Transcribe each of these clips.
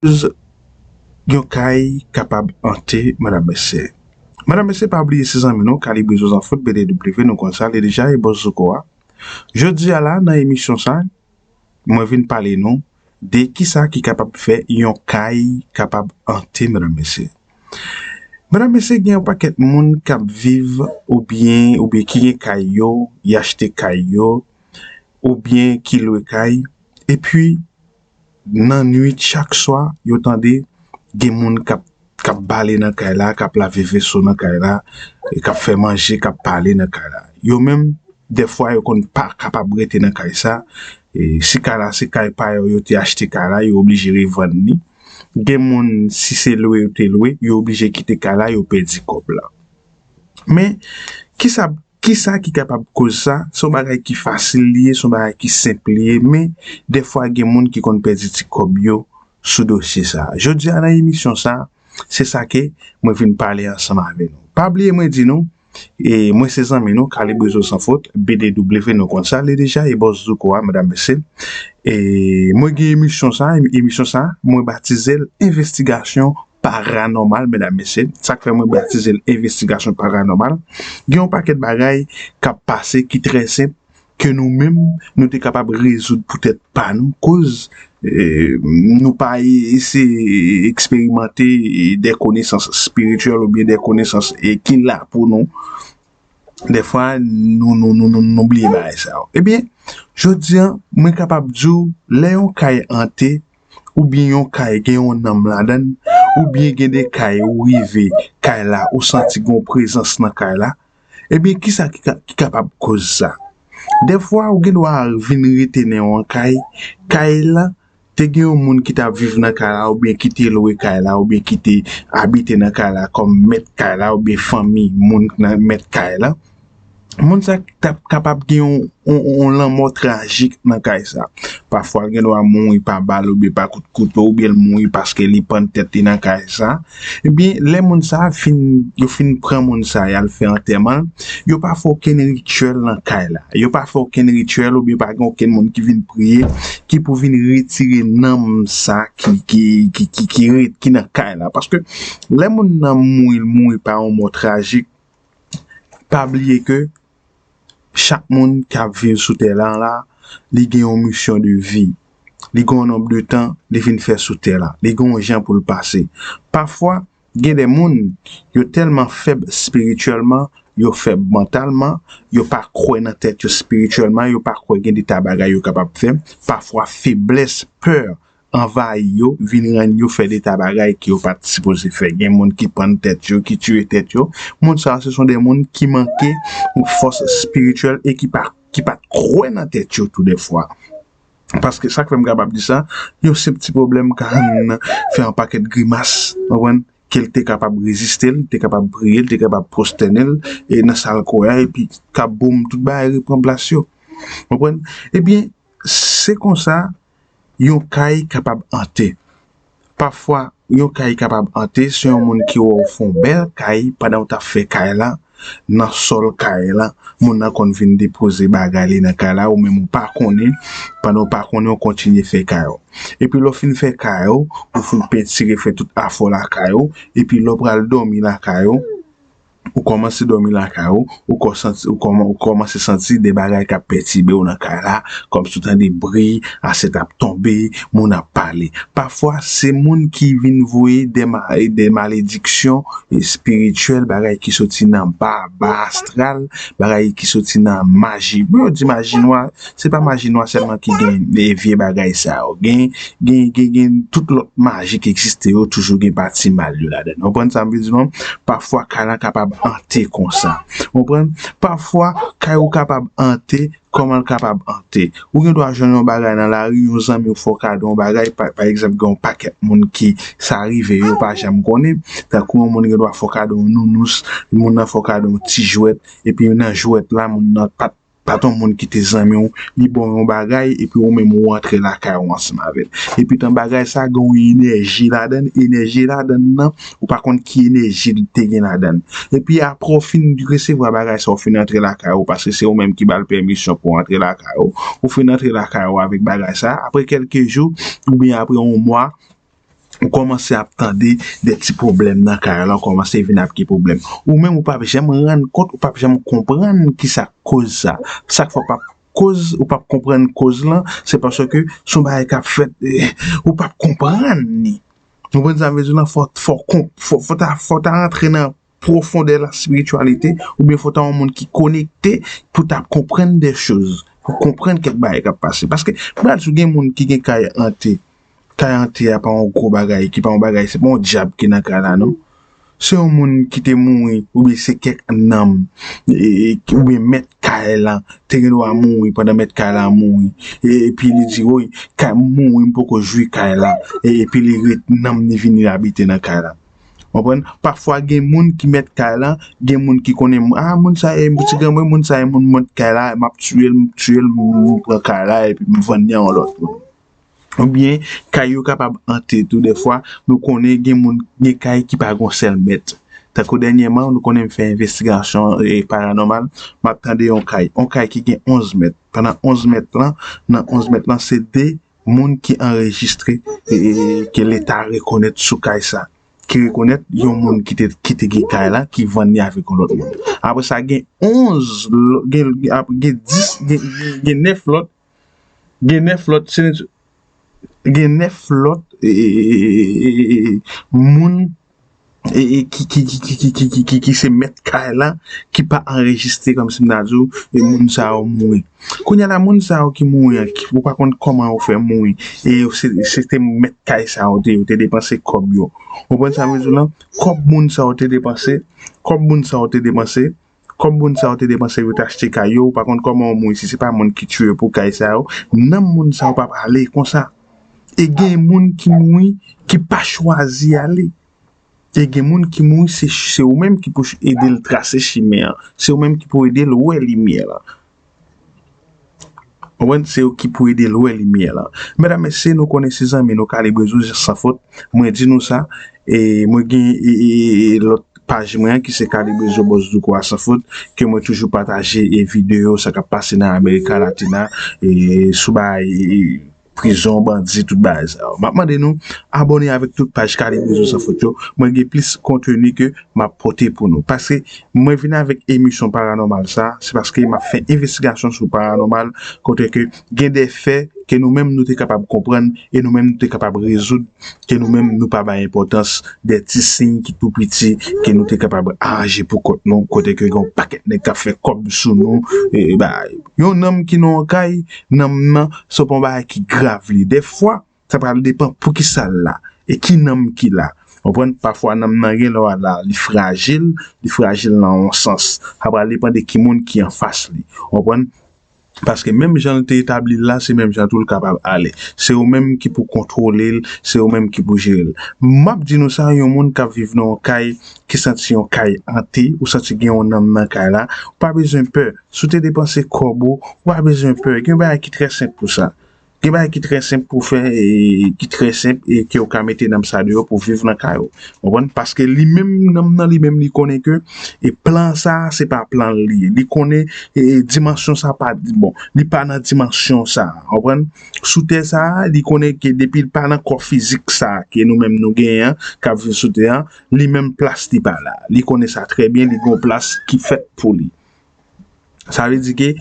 Koz yon kay kapab ante madam mesye. Madam mesye pa bliye se zanmi nou kalibre zo zanfot BDW nou konn sa li deja e bòs zouko a jodi a la nan emisyon sa mwen vin pale nou de kisa ki kapab fè yon kay kapab ante madam mesye. Madam mesye gen yon pakèt moun kap viv ou byen ou byen ki gen kay yo y achte kay yo ou byen ki lwe kay epi. Nan nwit chak swa, yo tande gen moun k ap bale nan kay la, k ap lave veso nan kay la, k ap fè manje, k ap pale nan kay la. Yo menm, dèfwa yo konn pa kapab rete nan kay sa. Si kay la se kay pa yo, yo te achte kay la, yo oblije revann li. Gen moun, si se lwe yo te lwe, yo oblije kite kay la, yo pèdi kòb la. Men, ki sa. Kisa ki kapab koz sa? Se yon bagay ki fasil li ye, se yon bagay ki senp li ye men dèfwa gen moun ki konn pèdi ti kòb yo sou dosye sa. Jodi a nan emisyon sa, se sa ke mwen vin pale ansanm avè nou. Pa bliye mwen di nou, e mwen se zanmi nou Kalibrizo San Fot, BDW nou konn sa le deja e Bòs Zouko a medam mesye. E mwen gen emisyon sa, emisyon sa mwen batize l Envestigasyon Paranòmal medam mesye, sak fè mwen batize l envestigasyon paranòmal, gen yon pakèt bagay kap pase ki trè senp ke nou menm nou te kapab rezoud pou tèt pa nou koz nou pa eseye eksperimante dè konesans espirityèl oubyen dè konesans ki la pou nou dèfwa nou bliye bagay sa yo ebyen jodi an mwen kapab di w lè yon kay ante oubyen yon kay gen yon nanm ladan l, oubyen gen de kay ou rive kay la ou santi gen yon prezans nan kay la, ebyen kisa ki kapab koz sa? Dèfwa ou gen dwa vin rete nan yon kay, kay la te gen yon moun ki t ap viv nan kay la oubyen ki te lwe kay la oubyen ki te abite nan kay la kòm mèt kay la oubyen fanmi moun ki mèt kay la. moun sa ta kapab gen yon lanmò trajik nan kay sa. Pafwa l gen dwa mouri pa bal oubyen pa kout kouto oubyen l mouri paske li pann tèt li nan kay sa. Ebyen, lè moun sa fin, yo fin pran moun sa y al fè antèman l, yo pa fè okenn rityèl nan kay la. Yo pa fè okenn rityèl oubyen pa gen okenn moun ki vin priye ki pou vin retire nanm sa ki rete, ki nan kay la. Paske lè moun nan mouri, l mouri pa yon mò trajik. pa bliye ke chak moun ki ap viv sou tè lan la, li gen yon misyon de vi. Li gen yon nonb de tan li vin fè sou tè la. Li gen yon jan pou l pase. Pafwa, gen de moun, yo tèlman fèb espirityèlman, yo fèb mantalman, yo pa kwè nan tèt yo espirityèlman, yo pa kwè gen de ta bagay yo kapab fè. Pafwa, feblès, pè, anvayi yo, vin rann yo fè deta bagay ke yo pa t sipoze fè. Gen moun ki pann tèt yo, ki tiye tèt yo. Moun sa yo se son de moun ki manke fòs espirityèl e ki pa ki pa t kwè nan tèt yo tou de fwa. Paske sa k fè m kapab di sa, yon senp ti pwoblèm ka rann nan fè yon pakèt grimas, ou konprann, ke l te kapab reziste, l te kapab priye, l te kapab pwostène l e nan sa l kwè a epi kap boum tout bagay repran plas yo. Ou konprann? Ebyen, se konsa. yon kay kapab ante. Pafwa, yon kay kapab ante se yon moun ki wè w fè yon bèl kay pandan w t ap fè kay la, nan sòl kay la, moun nan konn vin depoze bagay li nan kay la, ou menm ou pa konnen, pandan w pa konnen w kontinye fè kay ou. Epi lè w fin fè kay ou, ou fin pentire fè tout afè w lakay ou, epi lè w pral dòmi lakay ou, Ou kòmanse dòmi lakay ou, ou kò santi, ou kòman, ou kòmanse santi de bagay k'ap pètibe ou nan kay la, kòm si ou tande bri, asyèt ap tonbe, moun ap pale. Pafwa, se moun ki vin voye de ma, de malediksyon espirityèl, bagay ki soti nan ba, ba astral, bagay ki soti nan maji. Bon, yo di maji nwa. Se pa maji nwa sèlman ki gen vye bagay sa yo. Gen, gen, gen, gen tout lòt maji ki egziste yo toujou gen pati mal yo ladan l. Ou konprann sa m vle di nou an? Pafwa kay lan kapab ante konsa. Ou konprann? Pafwa kay ou kapab ante, kòman l kapab ante? Ou gen dwa jwenn yon bagay nan lari, yon zanmi w fè w kado yon bagay, pa, pa egzanp gen yon pakèt moun ki sa rive yo pa janm konnen, tankou yon moun gen dwa fè w kado yon nounous, moun nan fè w kado yon ti jwèt, epi nan jwèt la moun nan pa t. Bat yon moun ki te zanmi w, li ba w yon bagay epi ou menm ou antre lakay ou ansanm avè l. Epi tan bagay sa gen yon enèji ladan l, enèji ladan l nan ou pa konn ki enèji li te gen ladan l. Epi aprè ou fin resevwa bagay sa ou fin antre lakay ou paske se ou menm ki ba l pèmisyon pou antre lakay ou, ou fin antre lakay ou avèk bagay sa aprè kèlke jou oubyen aprè yon mwa, Ou kòmanse ap tande de ti pwoblèm nan kay la, ou kòmanse vin ap gen pwoblèm. Ou menm ou p ap janm rann kont, ou p ap janm konprann ki sa k koz sa. Sa k fè ou p ap koz, ou p ap konprann koz lan, se paske s on bagay k ap fèt, ou p ap konprann li. Ou konprann sa m vle di w lan? Fò, fò w konp, fò w ta, fò w ta rantre nan pwofondè laspirityalite oubyen fò ta yon moun ki konekte pou ta konprann dè choz, pou konprann kèk bagay k ap pase. Paske, m pral di w, gen moun ki gen kay ante, kay ante a pa yon gwo bagay, ki pa yon bagay, se pa yon dyab ki nan kay la non. Se yon moun ki te mouri oubyen se kèk nanm oubyen mèt kay la te gen dwa mouri pandan mèt kay la mouri. Epi li di, woy, kay m mouri m poko jwi kay la. Epi li ret, nanm li vini abite nan kay la. Konprann? Pafwa gen moun ki mèt kay lan, gen moun ki konnen m, a moun sa e ti granmoun, moun sa e moun mèt kay la, map tiye l, m tiye l, m pran kay la epi m vann li a yon lòt moun. Oubyen kay yo kapab ante tou dèfwa, nou konnen gen moun, gen kay ki pa gon sèl mèt. Tankou dènyèman, nou konnen m fè envestigasyon e paranòmal, map tande yon kay, yon kay ki gen 11 mèt. Pandan 11 mèt lan, nan 11 mèt lan se 2. moun ki anrejistre ke leta rekonèt sou kay sa, ki rekonèt yon moun ki te gen kay la ki vann li avèk yon lòt moun. Apre sa gen 11, gen 10, gen 9 lòt, gen 9 lòt, gen 9 lòt moun ki se mèt kay la ki pa anrejistre kòm si m ta di w e moun sa yo mouri. Kounye a la moun sa yo ki mouri an, ou pa konn kòman yo fè mouri e yo se te mèt kay sa yo te, yo te depanse kòb yo. Konprann sa m vle di w lan? Kòb moun sa yo te depanse, kòb moun sa yo te depanse. Kòb moun sa yo te depanse pou yo te achte kay yo, ou pa konn kòman yon moun si se pa moun ki tue yo pou kay sa yo, nanm moun sa yo pa pale konsa. E gen moun ki mouri ki pa chwazi ale. E gen moun ki mouri se ou menm ki pou ede l trase chimen an, se ou menm ki pou ede l wè limyè an. Konprann? Se yo ki pou ede l wè limyè lan. Medam, mesye, nou konnen se zanmi nou Kalibre Zo Jis San Fot. Mwen di nou sa. E mwen gen lòt paj mwen an ki se Kalibre Zo Bòs Douko a San Fot ke mwen toujou pataje videyo sa k ap pase nan Amerika Latina sou bagay. prizon bandi tout bagay sa yo. Map mande nou abone avek tout paj Kalevozo San Fot yo, mwen gen plis konteni ke map pote pou nou. Paske mwen vin avek emisyon paranormal sa, se paske map fè envestigasyon sou paranormal kote ke gen de fè ke nou menm nou te kapab konprann e nou menm nou te kapab rezoud ke nou menm nou pa bay enpotans de ti siy ki tou piti ke nou te kapab aje pou kont nou kote ke gen yon pakèt nèg kap fè kob sou nou e bagay. Yon nonm ki nan yon kay. Nanm nan se pa yon bagay ki grav li. Dèfwa, sa pral depan pou ki sa l la e ki nanm ki la. Ou konprann? Pafwa nanm nan gen lè w al la, li frajil, li frajil nan yon sans. Sa pral depan de ki moun ki anfas li. Ou konprann? Paske menm jan l te etabli l la, se menm jan tou l kapab ale. Se ou menm ki pou kontwole l, se ou menm ki pou jere l. M ap di nou sa, yon moun k ap viv nan yon kay ki santi yon kay ante, ou santi gen yon nanm nan kay la, ou pa bezwen pè. Si w te depanse kòb ou, ou pa bezwen pè. Gen yon bagay ki trè senp pou sa. Gen bagay ki trè senp pou w fè, ki trè senp e ke w ka mete nanm sa deyò pou w viv nan kay ou. Ou konprann? Paske li menm, nanm nan li menm li konnen ke e plan sa a se pa plan l li ye. Li konnen e dimansyon sa a pa, bon, li pa nan dimansyon sa a. Ou konprann? Sou tè sa a, li konnen ke depi l pa nan kò fizik sa a ke nou menm nou genyen an, k ap viv sou tè an, li menm plas li pa la. Li konnen sa trè byen, li gen yon plas ki fèt pou li. Sa vle di ke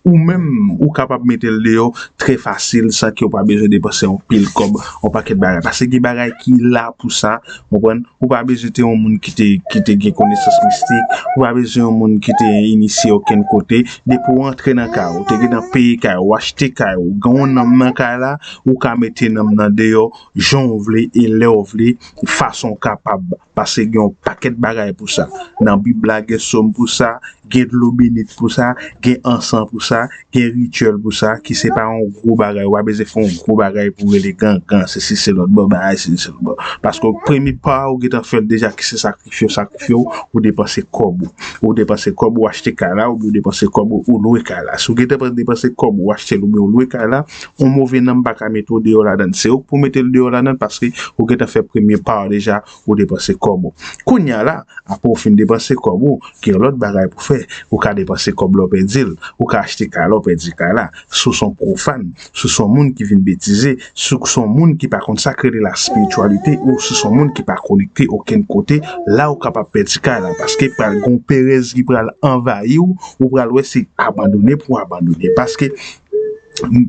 ou menm ou kapab mete l deyò trè fasil san ke ou pa bezwen depanse anpil kòb, yon pakèt bagay. Pase gen bagay ki la pou sa, ou konprann? Ou pa bezwen te yon moun ki te ki te gen konesans mistik, ou pa bezwen yon moun ki te inisye okenn kote. Depi ou rantre nan kay ou, ou te gentan peye kay ou, ou achte kay ou, gen yon nanm nan kay la, ou ka mete nanm nan deyò jan ou vle e lè ou vle, fason ou kapab. Pase gen yon pakèt bagay pou sa. Nan Bib la gen som pou sa, gen dlo benit pou sa, gen ansan pou sa, gen rityèl pou sa ki se pa yon gwo bagay. Ou pa bezwen fè yon gwo bagay pou rele gangan, sesi se lòt bon bagay sesi se lòt bon. Paske premye pa a ou gentan fè l deja ki se sakrifye yo sakrifye ou, ou depanse kòb ou. Ou depanse kòb ou achte kay la oubyen ou depanse kòb ou lwe kay la. Si ou gentan depanse kòb ou achte l oubyen ou lwe kay la, Yon move nanm pa ka mete w deyò ladann. Se ou k pou mete l deyò ladann paske ou gentan fè premye pa w deja, ou depanse kòb ou. Kounya la, apre w fin depanse kòb ou, gen yon lòt bagay pou fè. Ou ka depanse kòb la w pèdi l. Ou ka achte kay la w pèdi kay la. Si w se yon pwofàn, si w se yon moun ki vin betize, si w se yon moun ki pa konn sa k rele laspirityalite ou si w se yon moun ki pa konekte okenn kote, la ou kapab pèdi kay la paske pral gen yon perèz ki pral anvayi w, ou pral wè se abandone pou w abandone paske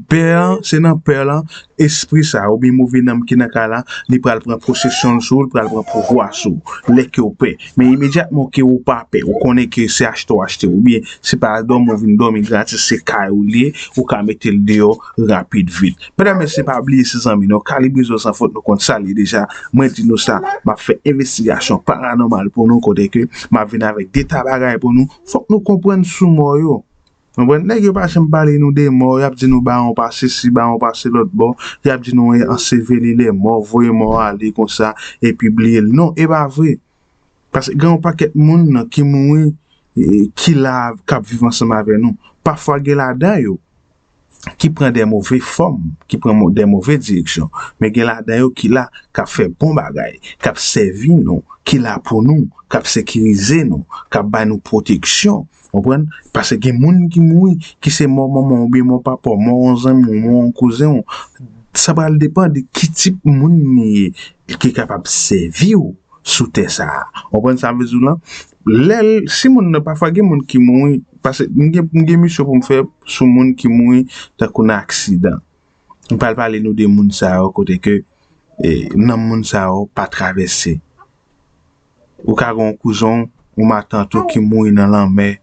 Pè an, se nan pè lan espri sa a oubyen move nanm ki nan kay la, li pral pran posesyon l sou ou, li pral pran pouvwa sou ou. Lè ke w pè. Men imedyatman ke ou pa pè, ou konnen ke se achte w achte oubyen se pa dòmi w vin dòmi gratis, se kay ou li ye, ou ka mete l deyò rapid vit. Medam mesye pa bliye se zanmi nou, Kalibrezon San Fot nou konn sa l ye deja, mwen di nou sa, m ap fè envestigasyon paranòmal pou nou kote ke m ap vin avèk deta bagay pou nou, fòk nou konprann sou mò yo. Konprann? Nèg yo pa janm pale nou de mò, yap di nou bawon pa sesi, bawon pa se lòt bò, yap di nou anseveli lè mò, voye mò a ale konsa epi bliye l. Non, e pa vre. Paske gen yon pakèt moun ki mouri ki la kap viv ansanm avè nou. Pafwa gen ladan yo ki pran de move fòm, ki pran de move direksyon, men gen ladan yo ki la kap fè bon bagay, kap sèvi nou, ki la pou nou, kap sekirize nou, kap bay nou pwoteksyon. Konprann? Pase gen moun ki mouri, ki se mò manman w oubyen mò papa w, mò yon zanmi w, mò yon kouzen w. Sa pral depan de ki tip moun li ye ki kapab sèvi w sou tè sa a. Ou konprann sa m vle di w la? Lè l, si moun nan, pafwa gen moun ki mouri, pase m gen, m gen misyon pou m fè sou moun ki mouri tankou nan aksidan. M pral pale nou de moun sa yo kote ke nanm moun sa yo pa travèse. Ou ka gen yon kouzen w, yon matant ou ki mouri nan lanmè,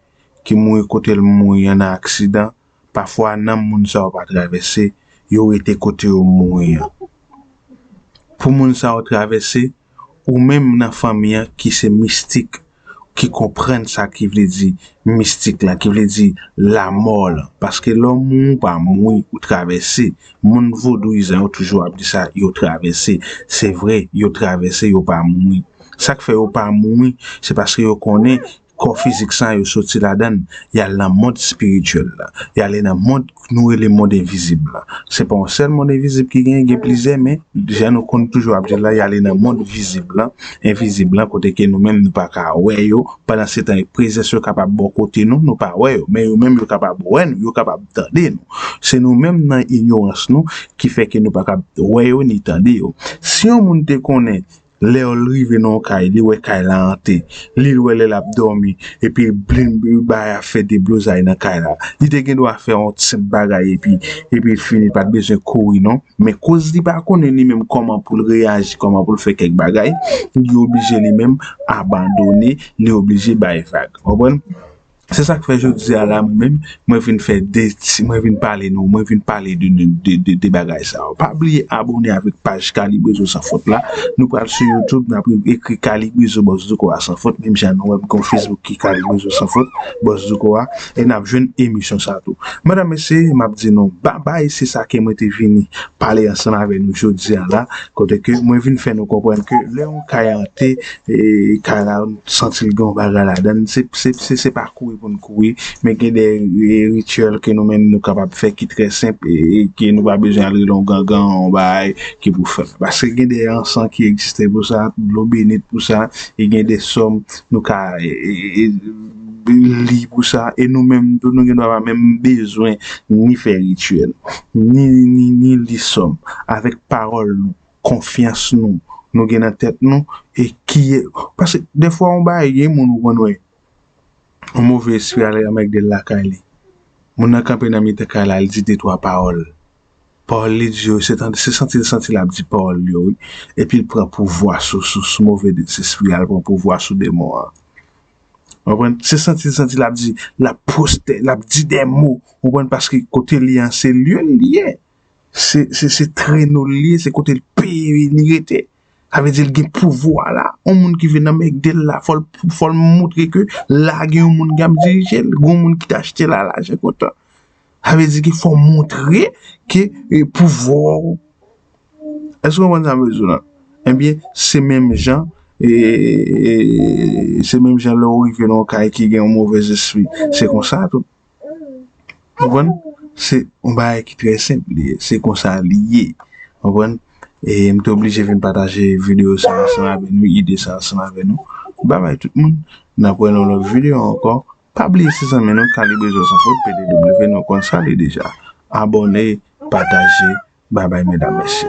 ki mouri kote l mouri an nan aksidan. Pafwa nanm moun sa yo pa travèse, yo rete kote yo mouri an. Pou moun sa yo travèse, ou menm nan fanmi an ki se mistik, ki konprann sa ki vle di mistik la, ki vle di lamò lan. Paske lè w mouri, ou pa mouri, ou travèse. Moun vodouyizan yo toujou ap di sa yo travèse se vre yo travèse yo pa mouri sak fè yo pa mouri se paske yo konnen kò fizik sa yo soti ladann yal nan mond spirityèl la yale nan mond nou rele mond envizib la se pa yon sèl mond envizib ki genyen gen plizyè men jan nou konn toujou ap dil la yale nan mond vizib la envizib la kote ke nou menm nou pa ka wè yo pandan setan prezans yo kapab bò kote nou nou pa wè yo men yo menm yo kapab wè nou yo kapab. tande nou. Se nou menm nan inyorans nou ki fè ke nou pa kab wè yo ni tande yo. Si yon moun te konnen lè l rive nan yon kay li wè kay la ante, li l wè lè l ap dòmi epi blim bagay ap fè deblozay nan kay la, li te gen dwa fè yon senp bagay epi epi l fini, l pa t bezwen kouri non. Men koz li pa konnen li menm kòman pou l reyaji, kòman pou l fè kèk bagay, li oblije li menm abandone, li oblije bay vag. Konprann? Se sa k fè jodi a la mwen menm, mwen vin fè 2 ti, mwen vin pale nou, mwen vin pale de nou, de 2 bagay sa yo. Pa bliye abone avèk paj Kalibrizo San Fot la. Nou pral sou YouTube, n ap ekri Kalibrizo Bòs Douko a San Fot, menm jan nou wè m gen yon Facebook ki Kalibrizo San Fot, Bòs Douko a, e n ap jwenn emisyon sa tou. Medam, mesye, m ap di nou babay, se sa ke mwen te vini pale ansanm avè nou jodi a la, kote ke mwen vin fè nou konprann ke lè yon kay ante, Kay la ou santi l gen yon bagay ladan l. Se pa kouri pou n kouri, men gen de rityèl ke nou menm nou kapab fè ki trè senp e ke nou pa bezwen al rele yon gangan, yon bagay ki pou fè l. Paske gen de ansan ki egziste pou sa, dlo benit pou sa e gen de som nou ka li pou sa. E nou menm tou nou gen dwa pa menm bezwen ni fè rityèl, ni li som avèk pawòl nou. konfyans nou nou gen nan tèt nou e ki paske defwa yon bagay gen moun ou konn wè yon move espri al anmègde l lakay li moun nan kanpe nan mitan kay la li di de twa pawòl pawòl li di yo se tande se santi l santi l ap di pawòl yo wi epi l pran pouvwa sou sou move espri a l pran pouvwa sou demon an ou konprann se santi l santi l ap di l ap pwostè l ap di de mo ou konprann paske kote li an se lye l ye. Se treno l ye, se kote l peye li rete. Sa vle di l gen pouvwa la. On moun ki vin nan mègde l la, fò l montre ke la gen yon moun ki ap dirije l. Gon moun ki te achte l a lajan kontan. Sa vle di ke fò w montre ke pouvwa w. Èske w konprann sa m vle di w la? Ebyen, se menm jan, se menm jan lè w rive nan yon kay ki gen yon movèzespri. Se konsa tou. Konprann? Se yon bagay ki trè senp li ye. Se konsa li ye. Konprann? E m te oblije vin pataje videyo sa ansanm avè nou, ide sa ansanm avè nou. Babay tout moun. N ap wè nan yon lòt videyo ankò. Pa bliye se zanmi nou K-Librezosanfot pdw nou konn sa li deja. Abòne, pataje. Babay medam mesye.